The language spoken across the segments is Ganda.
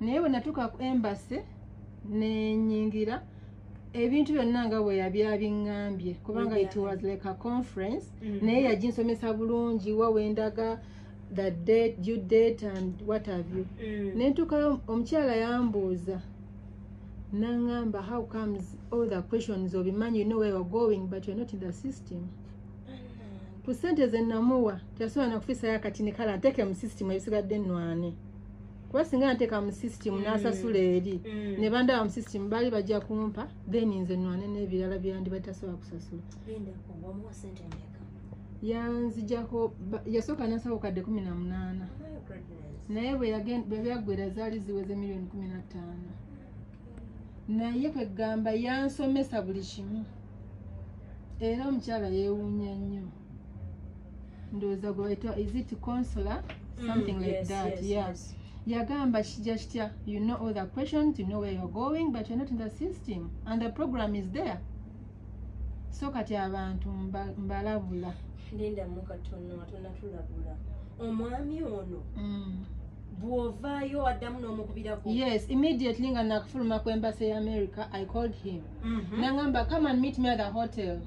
naye bwe natuuka ku embase nenyingira ebintu byonna nga bwe yabyabiŋŋambye kubanga it was like a conference mm-hmm. naye yaginsomesa bulungi wa wendaga the date due date and what have you mm. nentuukayo omukyala yambuuza nangamba how comes all the questions obimanyi you know where you're going but you're not in the system ku sente zenamuwa teyasobola nakufisayo akatini kala nteke mu system ebisigadde nwane kuba singa nteeka mu system mm. nasasula eri mm. ne bandaba mu system baali bajja kumpa then nze nwane n'ebirala byandi batasobola kusasula yanzijako yasooka nasawo kadde kumi na munaana oh naye bwe byaggwera zaali ziweze miliyoni kumi na ttaano naye kwegamba yansomesa buli kimu era omukyala yewunya nnyo ndowooza gwebaita is it consula mm, something like that yes yagamba kijja kitya you know all the questions you know where you're going but you're not in the system and the program is there so kati abantu mbalabula linda mukatono atonatulabula omwami ono mm. bwovaayo addamu n'omukubirako yes immediately nga nakufuluma ku embassy ya america i called him mm -hmm. nangamba come and meet me at the hotel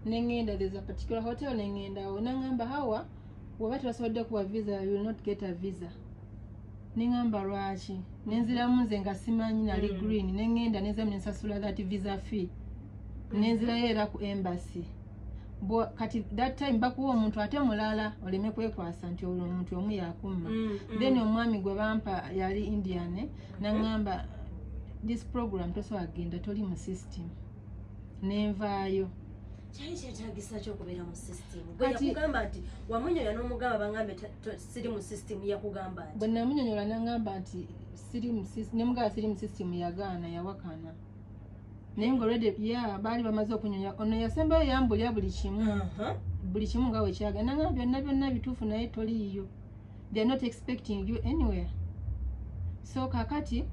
nengenda there's a particular hotel nengendawo nangamba hawa bwoba tebasobodde kuwa visa you will not get a visa nengamba lwaki nenziramu nze nga simanyi nali mm. green nengenda nenzamu nensasula that visa fee mm. nenzirayo era ku embassy kati that time bakuwa omuntu ate mulala oleme kwekwasa nti olwo omuntu omu yakumma mm, then omwami gwe bampa yali indian eh, nangamba this program tosobola kugenda toli mu system nenvaayo kyali kyetagisa ki okubeera mu system gweyakugamba nti wamunyonyola n'omugamba bangambe siri mu system yakugamba nti bwenamunyonyola nangamba nti siri mu system nemugaba siri mu system yagaana yawakana naye nga olwedde ya baali bamaze okunyonya ono yasembayo yambulya buli kimu buli kimu nga wekyaga nangamba byonna byonna bituufu naye toliiyo they're not expecting you anywhere so kakati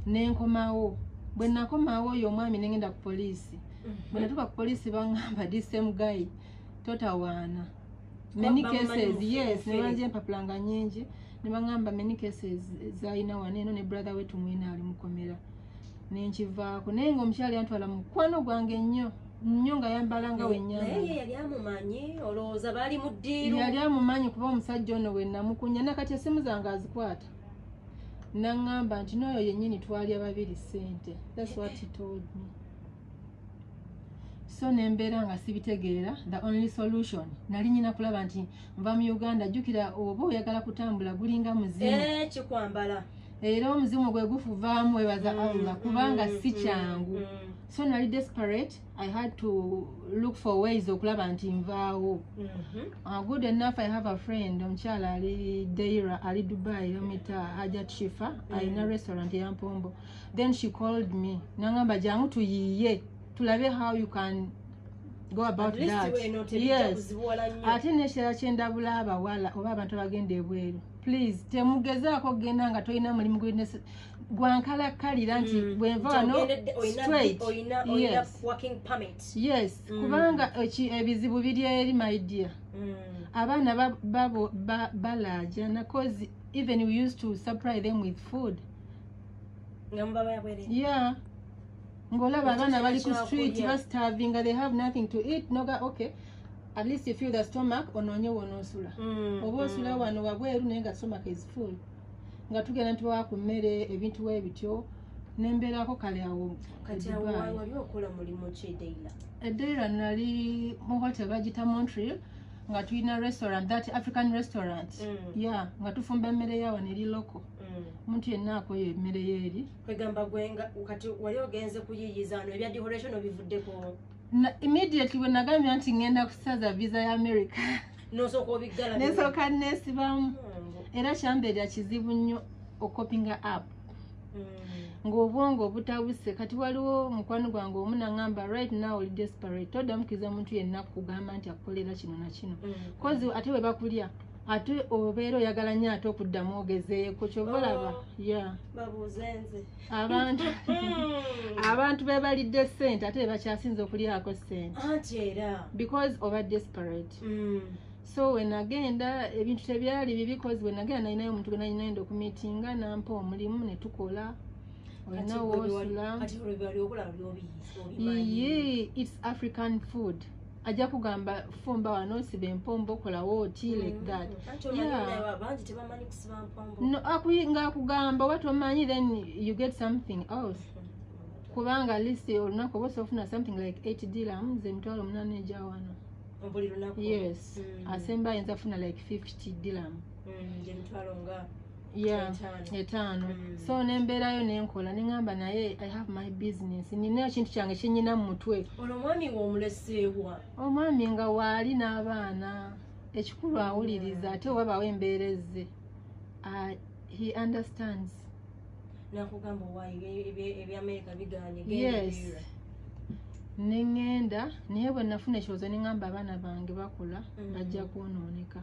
nenkomawo bwenakomawo oyo omwami nengenda ku poliisi bwe natuuka ku poliisi bangamba di same guy totawaana many cases yes ne banze empapula nga nyingi ne bangamba many cases zalina wano eno ne brother we tumwina ali mukomera nenkivaako naye nga omukyala yantwala mukwano gwange ennyo nnyo nga yambala nga wenyayali amumanyi kuba omusajja ono wenamukunya nakati esimu zange azikwata naŋŋamba nti nooyo yennyini twalya babiri ssente that's what he told me so nembeera nga sibitegeera the only solution nali nyina kulaba nti nva mu uganda jjukira oba oyagala kutambula gulinga muzimu eh, kikwambala era omuzimu gwe gufuvaamu webaza mm, allah kubanga mm, si mm, kyangu so nali desperate i had to look for ways okulaba nti nvaawo mm-hmm. uh, good enough i have a friend omukyala ali deira ali dubai omita hajat shifa alina restaurant eyampombo then she called me nangamba jangu tuyiye tulabe how you can go about that yes ate nekirala kyendabula abawala oba abantu abagenda ebweru please temugezaako kugenda nga tolina mulimu gwankalakkalira nti mm. bwenva wano straight yes mm. kubanga ebizibu biri eri my dear mm. abaana balaajana cause even we used to supply them with food nga mubaba yabwere yeah ngolaba abaana bali ku street bastavinga they have nothing to eat noga okay at least you feel the stomach onoonye wonosula mm, oba osula mm. wano wabweru naye nga stomach is full nga tugenda ntibawa ku mmere ebintu we bityo nembeerako kale awo edaira eh, nali mu hotel bagita montreal nga tulina restaurant that african restaurant mm. ya nga tufumba emmere yawo neri local Mm. omuntu yenna akoyo emmere yeeri kwegamba gwenga kati wali ogenze kuyiyiza ano ebya dehoration obivuddeko immediately bwe nagambya nti ngenda kusaza visa ya america nesooka nesibamu oh, era kyambeera kizibu nnyo okopinga app mm. ngaobwongo obutabuse kati waliwo mukwano gwange omu nangamba right now oli desperate todamukiriza omuntu yenna kugamba nti akukolera kino na kino mm. kozi ate bwe bakulya ate obeera oyagala nyo ate okuddamu ogezeeko kyobalaba oh, ya babuuzenze abantu abantu bebalidde sente ate bebakyasinza okulyako sente anti era because oba desperate mm. so wenagenda ebintu tebyali bibi cause wenagenda nalinayo omuntu gwenalinaenda okumitinga nampa omulimu netukola olinawoosula its african food ajja kugamba fumba wano nsiba empombo okolawo oti mm. like that nga akugamba oba tomanyi then you get something else kubanga list olunaku oba osofuna something like 8 dilam ze mitwalo omunana eja wano yes mm. asemba ayinza funa like 50 dilam mm, etaano mm. so nembeerayo nenkola neŋamba naye i have my business ninayo kintu kyange kyenyina mu mutwe olomwami womuleseewa omwami nga waali n'abaana ekikulu awuliriza ate wabaawo embeera ezze uh, he understands nakugamba owayo ebyamerika biganye yes neŋŋenda naye bwe nafuna ekirowoozo neŋŋamba abaana bange bakula mm. bajja kwonooneka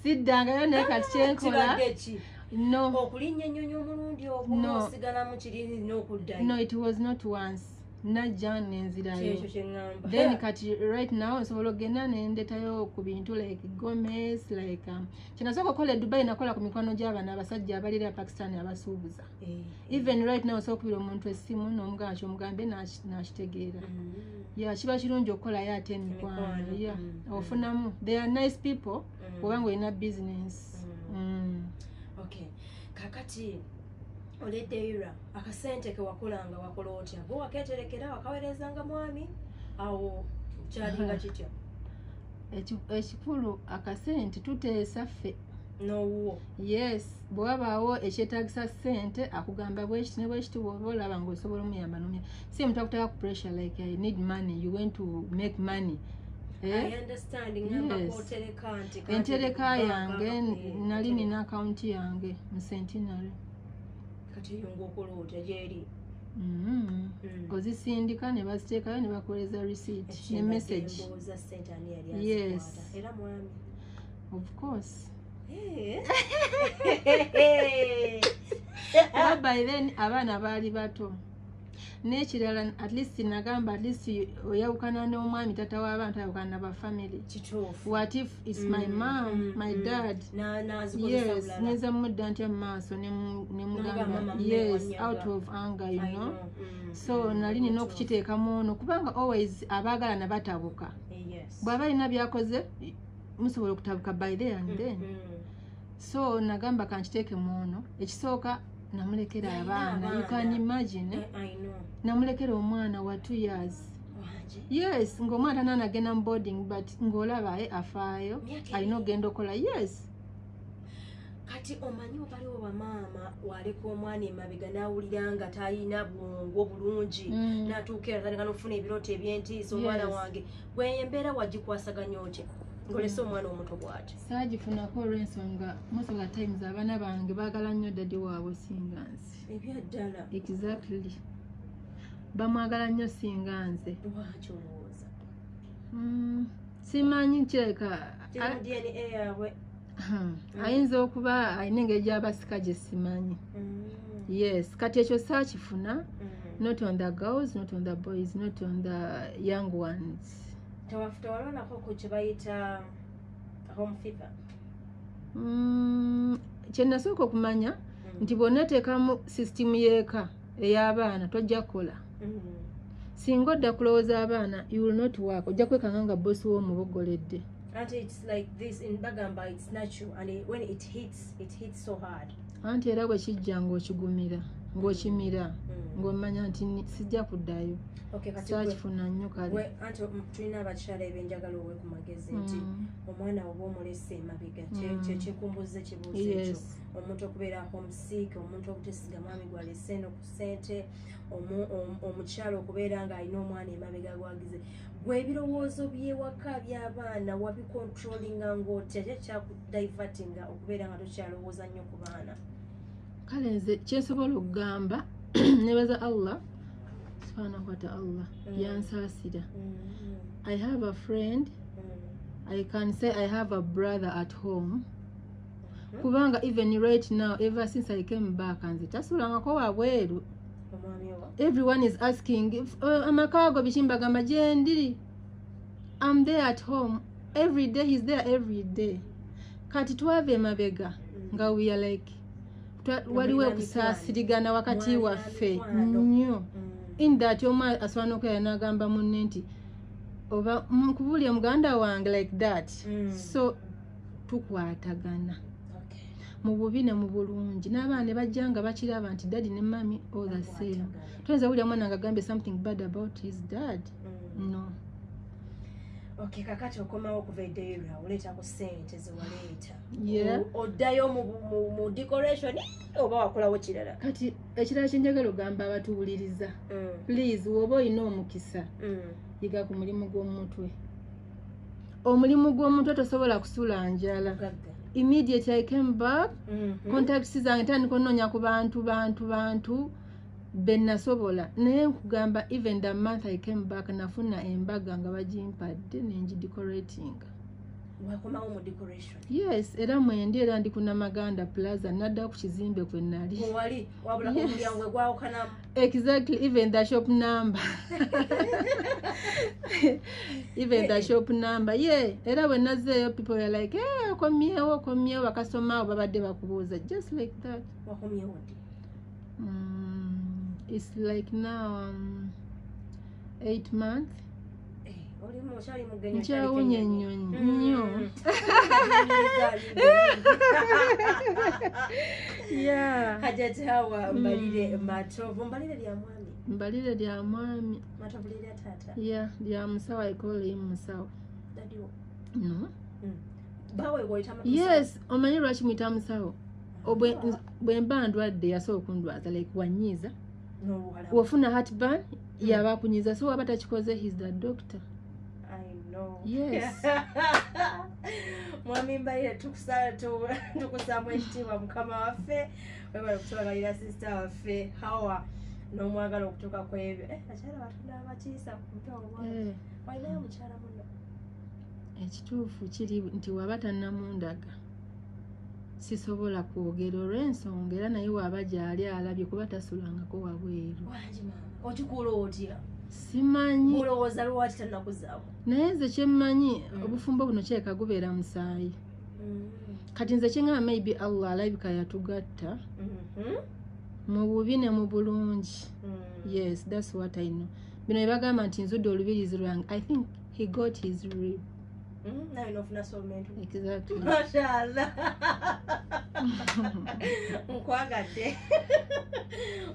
siddangayo naye kati kyenkola no okulinnya ennyonyi omulundi ogumu osigalamu kiri n'okuddayo no it was not once najja nenzirayo then kati right now nsobola okugenda nendetayo ku bintu like gomes like um, kyenasooka okukola edubai nakola ku mikwano gy'abana abasajja abalira pakistan abasuubuza eh. even right now osobola okubira omuntu essimu n'omugamba kyomugambye nakitegeera mm. ya kiba kirungi okukolayo ate emikwano ya mm. ofunamu they are nice people mm. oba nga olina business okay kakati oledeira akasente kewakolanga wakola otya gwe waketerekera wakawerezanga mwami awo kyalinga kitya ekikulu akasente tuteesa ffe nowuwo yes bwe wabaawo ekyetagisa sente akugamba bwekiti ne bwekiti bwoba olaba nga osobola omuyamba nomya si omuntu akuteka ku pressure like i need money you went to make money eh? entereka yange nali nina akawunti yange mu centenary kati eyo ngaokola otya gyeri Mm-hmm. Mm. ozisindika ne baziteekayo ne bakoleza receipt ne message yes of course eh. by then abaana baali bato n'ekirala at least nagamba at least oyawukana n'omwami tata w'abantu ayawukana naba family what if is my mm, mom mm, my mm. dad yes nyinza mudda ntya mu maaso nemugamba yes out of anger you know so nali nina okukiteekamu ono kubanga always abaagalana batabuka eh, bw'aba alina byakoze musobola okutabuka by there and then mm -hmm. so nagamba kankiteeke muono ekisooka namulekera abaana you can imagine eh, namulekera omwana wa two years yes ngaomwana tananagenda mu boarding but ngaolaba e afaayo alina okugenda okola yes kati omanyi obaliwo bamaama waleka omwana emabega nawulira nga talina bwongo bulungi mm. natuuka eratandika nokufuna ebirooto ebyentiisa omwana wange gweyo embeera wagikwasaganya otya ngolese omwana omuto bwati saagifunako olwensonga musoga times abaana bange baagala nnyo dadi waabwe singa nze ebyaddala exactly bamwagala nnyo singa nze lwaki olowooza mm, simanyi kireka dna yaabwe Hmm. ayinza okuba alina engeri gyabasika gye simanyi hmm. yes kati ekyo saakifuna hmm. not on the girls not on the boys not on the young ones tewalonako ku kyebayita home fever kyenasooka okumanya nti bwonateekamu system yeeka eyabaana tojja kukola mm-hmm. singa odda kulowooza abaana you will not work ojja kwekanga nga bosi wo omubogoledde anti era bwe kijja ng'okigumira ng'okimira mm. ng'omanya nti sijja kuddayo kyakifuna nnyo kaleanti um, tulina abakyala ebyenjagala owe ku magezi nti mm. omwana oba omulese emabega mm. kyekikumbuza ekibuuzo ekyo omuntu okubeera homes sick omuntu obutesiga mwami gwalese eno ku sente omukyalo okubeera nga alina omwana emabega gwagize gwe ebirowoozo byewaka byabaana wabicontrolinga ngaotya kye kyakudivertinga okubeera nga tokyalowooza nnyo ku baana kale nze kyensobola okugamba nebaza allah subhanahu wata allah mm. yansaasira mm-hmm. i have a friend mm. i can say i have a brother at home Mhm. kubanga even right now ever since i came back nze tasulangako wabweru everyone is asking uh, amaka ago bikimbagamba gyendiri am there at home every day he's there every day kati twava emabega mm. nga we are like waliwo okusaasirigana wakati waffe nnyo mm. in that omu asobola nokwera nagamba munne nti oba nkubulire muganda wange like that mm. so tukwatagana mu bubi ne mu bulungi n'abaana ne bajja nga bakiraba nti daddy ne mami all the same toyinza wulira mwana nga gambye something bad about his dad mm. no okay kakati okomawo okuva edeira oleeta ku sente zewaleeta oddayo mu decoration oba wakolawo kirala kati ekirala kyenjagala ogamba abatuwuliriza mm. please woba olina omukisa mm. yiga ku mulimu gw'omumutwe omulimu gw'omuntu tosobola kusula njala immediately i came back mm -hmm. contacts zange tandika onoonya ku bantu bantu bantu benasobola naye nkugamba even the month i came back nafuna embaga nga bagimpadde nengidecoratinga wakomawo mu decoration yes era mwendi era ndi kunamaganda plaza nadda ku kizimbe kwe nali wali wabula yes. omulyango gwawukanamu exactly even the shop number even the shop number ye yeah. era wenazeeyo people are like hey, eh, okomyewo okomyewo bakasoma oba badde bakubuuza just like that mm, it's like now um, eight months nkyawunya ennyonyi nnyo hajati hawa mbalire mm. matovu mbalire lya mwami mbalire lya mwami ya lya musawo aikoleyi musawo no mm. yes omanyi lwaki mwita musawo bwemba ndwadde yasobola okundwaza like wanyiiza wofuna hatban mm. yabakunyiza so waba takikoze his the doctor mwami mbaire tukusamu ekitiibwa mukama waffe webale kutubagalira sisita waffe hawa n'omwagala okutuuka ku ebyo eh, akyala batunda abakiisa ku mutwe omwana eh. walinayo mukyala muno ekituufu kiri nti waba tannamundaga sisobola kwogera olw'ensonga era naye waaba gyali alabye kuba tasulangako wabweru okikuula otya simanyi olowooza lwaki tanakuzaamu naye nze kyemmanyi mm. obufumbo buno kyeka gubeera musaayi mm. kati nze kyengamba maybe allah alabika yatugatta mm-hmm. mu bubi ne mu bulungi mm. yes thats what i know bino ebagamba nti nzudde olubirizi lwange i think he got his rib Hmm, nawe nofuna soulmate exactly mashallah nkwagadde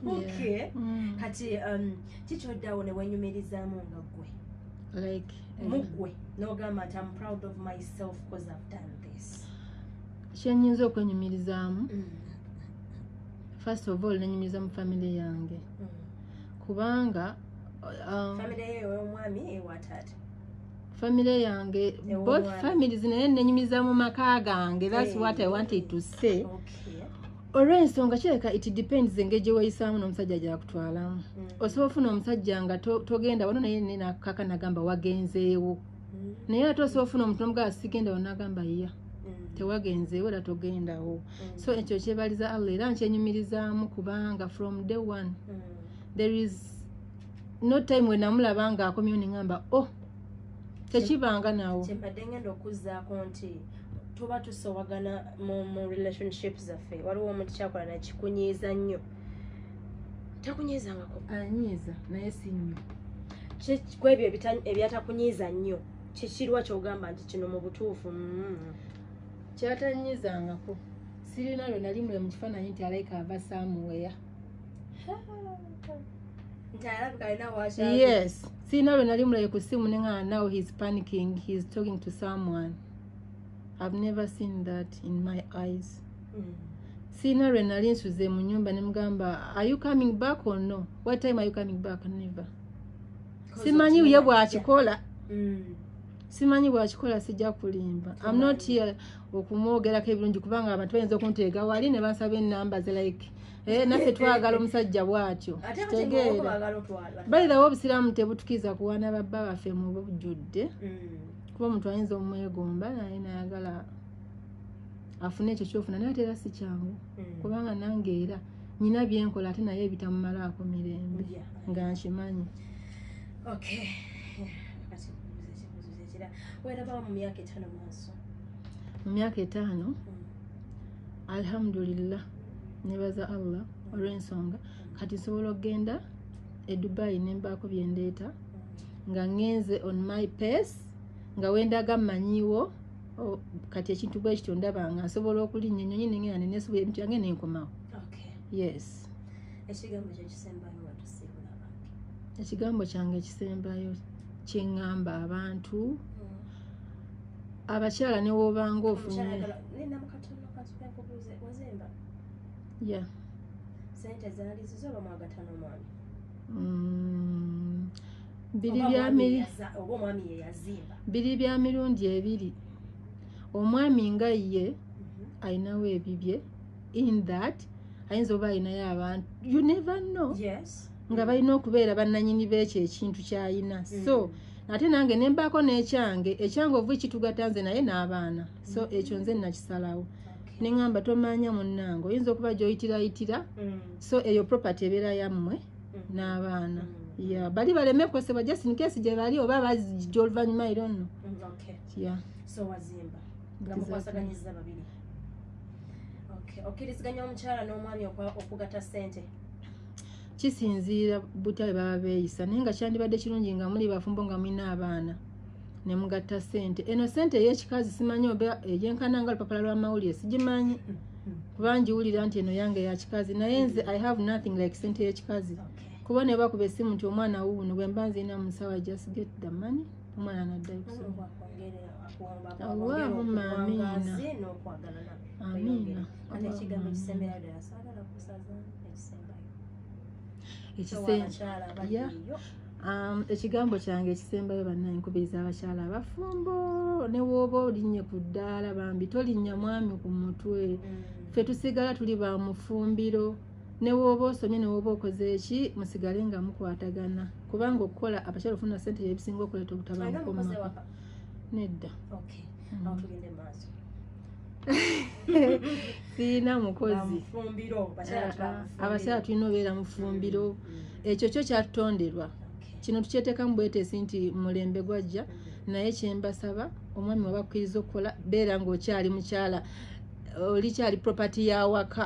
okay hmm. kati um kikyoddawo ne wenyumirizaamu nga gwe like eh, mugwe nogamba nti am proud of myself bcause i've done this kyenyinza okwenyumirizaamu mm. first of all nenyumiriza mu family yange mm. kubanga uh, um, family yeyo omwami ewataata family yange both families naye nenyumiza mu maka gange that's hey. what i wanted to say okay. olwensonga kireka it depends engeri gyeweyisaamu n'omusajja gyakutwalamu mm. osobola ofuna omusajja nga togenda to wano naye nenakaka nagamba wagenzeewo mm. naye ate osobola ofuna omuntu nomugaa sigenda wano nagamba yiya mm. tewagenzeewo era togendawo mm. so ekyo kyebaliza allah era nkyenyumirizaamu kubanga from day one mm. there is no time wenamulaba nga akomyewo neŋamba o oh, tekibanga nawo kyembadde ngenda okuzzaako nti tuba tusowagana mu relationship zaffe waliwo omuntu kyakola nakikunyiiza nnyo takunyiizangako anyiiza naye si nnyo kwebyo ebyatakunyiiza nnyo kikirwa kyogamba nti kino mu butuufu mm. kyatanyiizangako sirina lwe nali mule mu kifaananyi nti alaika ava saamuweya yes sirina lwe nali mulabe ku simu ne nga now he's panicking he's talking to someone i've never seen that in my eyes mm. sirina lwe nali nsuze mu nyumba ne mugamba are you coming back or no what time are you coming back never simanyi ye bwakikola mm. simanyi bwakikola sijja kulimba am not here okumwogerako ebirungi kubanga abantu bayinza okunteega wali ne bansaba enamba ze like Eh, naffe twagala omusajja bwatyo balirawo obusiraamu tebutukiza kuwana babba baffe mu bujjudde mm. kuba omuntu ayinza omwegomba naye nayagala afune ekyo kyofuna naye ate era si kyangu mm. kubanga nange era nyina byenkola ate naye ebitamumalaako mirembe nga nkimanyi mu myaka etaano mm. alhamdulillah nebaza allah olwensonga kati nsobola okugenda e dubai nembaako byendeeta nga ngenze on my pace nga wendaga mmanyiwo kati ekintu bwe kityo ndaba nga nsobola okulinnya ennyonyi nengenda nenesobola ebintu yange nenkomawo yes ekigambo kyange ekisembayo kyeŋŋamba abantu mm. abakyala newobanga ofunye ya sente zaali zizo oba mwagatana omwami mm. biri bya mirundi ebiri omwami nga ye mhm. alinawo ebibye in that ayinza oba alinayo abantu you never know yes nga balina okubeera bannanyini beekyo ekintu kyalina mm. so ate nange nembaako n'ekyange ekyange ovu kitugata nze naye n'abaana so mm. ekyo nze nakisalawo neŋamba tomanya munnange oyinza okuba gyoyitirayitira mm. so eyo property ebeera yammwe n'abaana ya bali baleme kukosebwa just in case gye bali oba bazijja oluvannyuma era onno okkiriziganya omukyala n'omwami okugata sente kisinziira butya bwe baba beeyisa naye nga kyandibadde kirungi nga muli bafumbo nga mulina abaana ne mugatta sente eno sente ey'ekikazi simanyi oba eyenkana nga lupapula lw'amawulire sigimanyi kuba ngiwulira nti eno yange ya kikazi naye nze i have nothing like sente y'ekikazi kuba ne bakuba essimu nti omwana wuuno bwe mba nziina mu nsawa just get the money omwana naddayo kusoma Allahumma amiina. n'okwagalana Amiina. ate ekigambo kisembera ddala saagala kusaza ekisembayo Ekise- abakyala abali Yeah. eyo Um, ekigambo kyange ekisembayo bannange nkubiriza abakyala abafumbo ne wooba olinnye ku ddaala bambi tolinnya mwami ku mutwe ffe tusigala tuli ba mufumbiro ne wooba osomye ne wooba okoze eki musigale nga mukwatagana kubanga okukola abakyala ofuna sente byebisinga okuleeta obutabanguko mu maka nedda okay. mm. sirina mukozi abakyala tulina obeera mufumbiro mm, mm. ekyo kyo kyatutonderwa kino tukyetekamu bwetesi nti mulembe gwajja mm. naye kyembasaba omwami wabakkiriza okukola beera ngaokyali mukyala olikyali property yawaka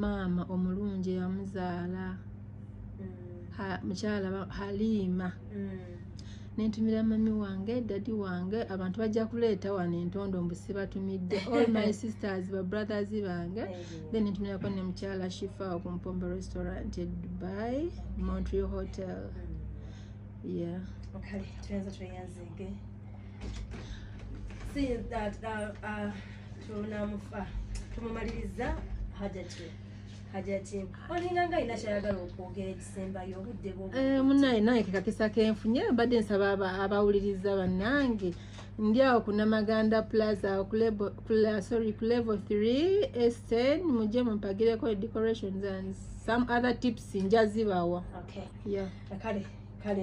maama omulungi eyamuzaala mm. mukyala haliima mm. nentumira mami wange dadi wange abantu bajja kuleeta wano entondo mbusibatumidde all my sisters babrothers bange then nentumirako ne mukyala shifa okumpombo restaurant e dubai montreal hotel mm. yeah okay. tunamufa tumumaliriza hajati hajati olinga nga alina kyayagala okwogera ekisembayo obudde bwo eh, munaye naye kekakisa kenfunye mbadde nsaba abawuliriza bannange ndi awo ku namaganda plaza sorry ku level 3 esten mujje mumpagireko decorations and some other tips njazibawa okay. yeah. kale kale